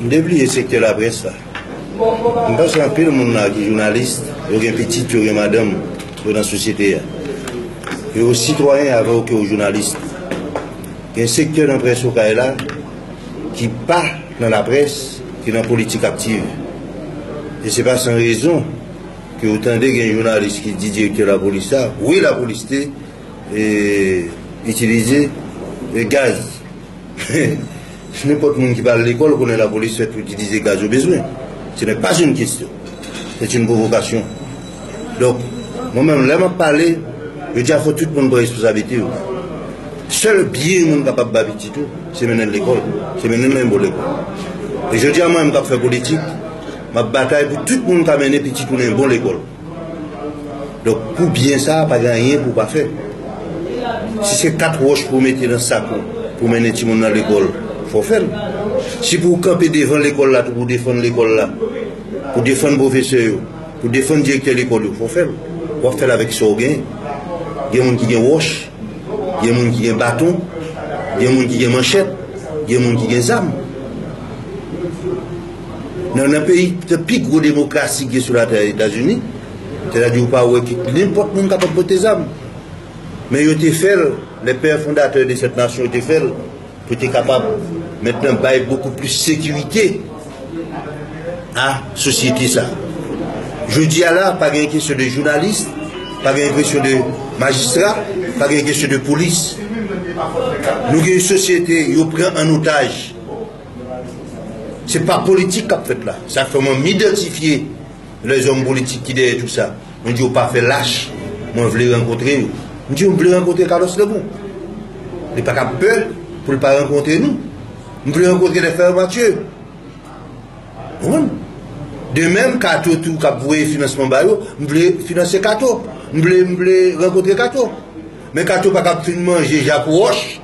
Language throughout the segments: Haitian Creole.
M te bliye sektè laprès sa. M panse anpil moun la ki jounalis, yo gen pitit, yo gen madanm, yo nan sosyete a. Yo sitwayen avè w ke w jounalis. Gen sektè nan près Okay la ki pa nan laprès, ki nan politik aktiv. E se pa san rezon ke w tande gen jounalis ki di direktè lapolis sa, wi lapolis te itilize gaz. Si nenpòt moun ki pa al lekòl konnen lapolis fèt pou itilize gaz yo bezwen, ce n'est pas une question, c'est une provocation. Donk, mwen menm lè m ap pale, yo di a fò tout moun pran responsablite yo. Sèl byen moun kapab ba pitit ou, se mennen l lekòl, se mennen l nan yon bon lekòl. E jodi a mwen menm k ap fè politik, m ap batay pou tout moun ka mennen pitit ou nan yon bon lekòl. Donk pou byen sa a pa gen anyen pou w pa fè. Si se kat wòch pou w mete nan sak ou pou w mennen timoun nan lekòl, fò w fè l. Si pou w kanpe devan lekòl la tou pou w defann lekòl la, pou w defann pwofesè yo, pou w defann direktè lekòl yo, fò w fè l. W ap fè l avèk sa w gen. Gen moun ki gen wòch, gen moun ki gen baton, gen moun ki gen manchèt, gen moun ki gen zam. Nan nan peyi ptè pi gwo demokrasi ki gen sou latè Etazini, sètadi ou pa wè ki nenpòt moun kapab pote zam. Men yo te fè l, lè pè fondatè de sèt nasyon yo te fè l, pou te kapab mentnan bay bokou plis sekirite a sosyete sa. Jodi a la, pa gen kesyon de jounalis, pa gen kesyon de majistra, pa gen kesyon de polis. Nou gen yon sosyete yo pran an otaj. Se pa politik kap fèt la. Sa fè mwen m'idantifye lèzòm politik ki dèyè tout sa. Mwen di yo pa fè lach. Mwen vle rankontre yo. Mwen di yo m'vle rankontre Carlos Lebon. Li pa ka pè pou li pa rankontre nou. M'vle rankontre lè fè Mathieu. Konprann? De menm Kato tou kap voye finansman ba yo, m'vle finanse Kato. M'vle rankontre Kato. Men Kato pa kap fin manje Jacques Roche.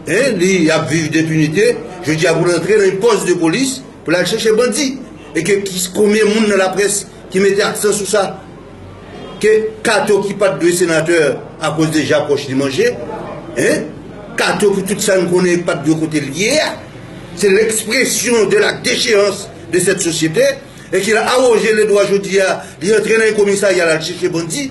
Hein li ap viv depinite jodi a pou l antre nan yon pòs de polis pou l al chèche bandi e ke konbyen moun nan laprès ki mete aksan sou sa ke Kato ki pat dwe senatè a koz de ja pòch li manje hein Kato pou tout sa n konnen pat dwe kote l ye a se l ekspresyon de la decheyans de sèt sosyete e ki l awoje le dwa jodi a li antre nan yon komisarya l al chèche bandi.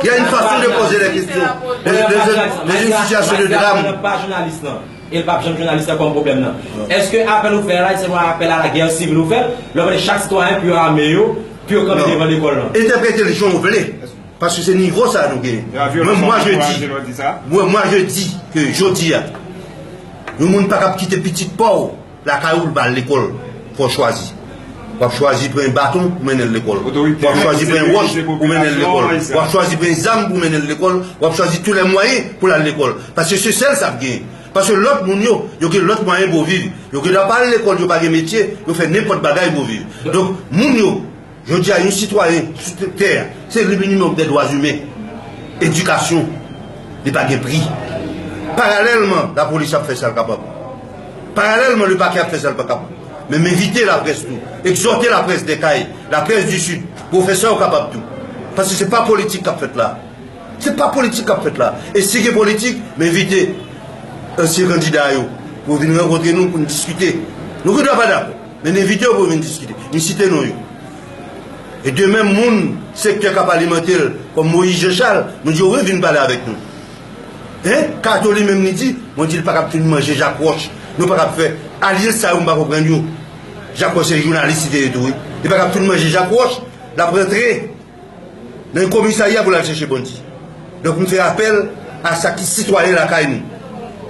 Gen yn fason de poze lè kestyon nan yn sitiyasyon de dram. Mwen pa jounalis nan e pap janm jounalis nan kòm pwoblèm nan. Eske apèl ou fè a la se pa apèl a la gè sivil ou fè lè ou mande chak sitwayen pou yo ame yo pou yo kanpe devan lekòl lan? Entèpretel jan ou vle paske se nivo sa nou genyen. Men mwa je di, mwen mwa je di ke jodi a yon moun pa kab kite pitit paw. Lakay ou li pa al lekòl, fò chwazi. Wap chwazi pran yon baton pou mennenl lekòl. Wap chwazi pran yon wòch pou mennenl lekòl. Wap chwazi pran yon zam pou mennenl lekòl. Wap chwazi tou lè mwayen pou lal lekòl. Paske se sèl sa ap genyen. Paske lòt moun yo, yo gen lòt mwayen pou yo viv. Yo gen dwa pa al lekòl, yo pa gen metye, yo fè nenpòt bagay pou yo viv. Donk moun yo. Jodi a, yon sitwayen sou tout tè a, se li menm yon dè dwa imen. Edikasyon li pa gen pri. Paralèlman, lapolis ap fè sa l kapab. Paralèlman, lepakè ap fè sa l pa kapab. Men m envite laprès tou, egzòte laprès dè kay, laprès di Sid, pou yo fè sa yo kapab tou. Paske se pa politik k ap fèt la a. Se pa politik k ap fèt la a. E si gen politik, m envite ansyen kandida yo pou yo vin rankontre nou pou n diskite. Nou gen dwa pa dakò. Men envite yo pou yo vin diskite. M site non yo. E de menm moun sektè k ap alimante l kòm Moïse Jean Charles, nou di yo wi vin pale avèk nou. Hein? Kato li menm li di, mwen di l pa kab fin manje Jacques Roche. Nou pa kab fè alyans sa yo m pa konprann yo. Jacques Roche se jounalis li te ye tou wi. Li pa kab fin manje Jacques Roche, l ap rantre. nan yon komisarya pou l al chèche bandi. Donk m fè apèl a sa ki sitwayen lakay nou.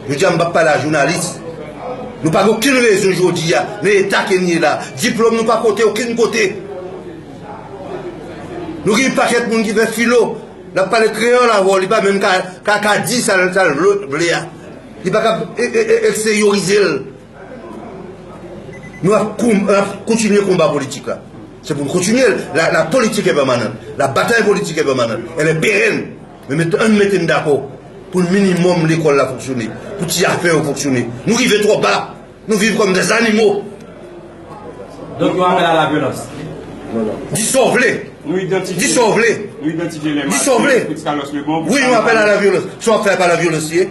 Jodi a m pa p pale a jounalis. Nou pa gen okenn rezon jodi a nan eta ke n ye la. Diplòm nou pa pote okenn kote. Nou gen yon pakèt moun ki fè filo. L ap pale kreyòl avè w, li pa menm ka di sa l vle a. Li pa kab eksteyorize l. Nou ap kontinye konba politik la. Se pou nou kontinye l. La politik e pèmanant. La batay politik e pèmanant. El e peren. Men mete ann mete n dakò pou l minimòm lekòl la fonksyone. Pou ti afè yo fonksyone. Nou rive twò ba. Nou viv kòm de zanimo. Donk yon apèl a la vyolans. Di sa w vle. Nou idantifye. Di sa w vle. Nou idantifye lè Mathieu Fritz Carlos Lebon pou sa. Di sa w vle. Wi yon apèl a la vyolans. Sa w ap fè a pa la vyolans li ye.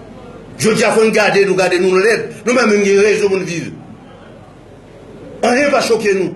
Jodi a fò n gade nou gade nou lèd, nou menm menm gen rezon pou n viv. Anyen pa choke nou.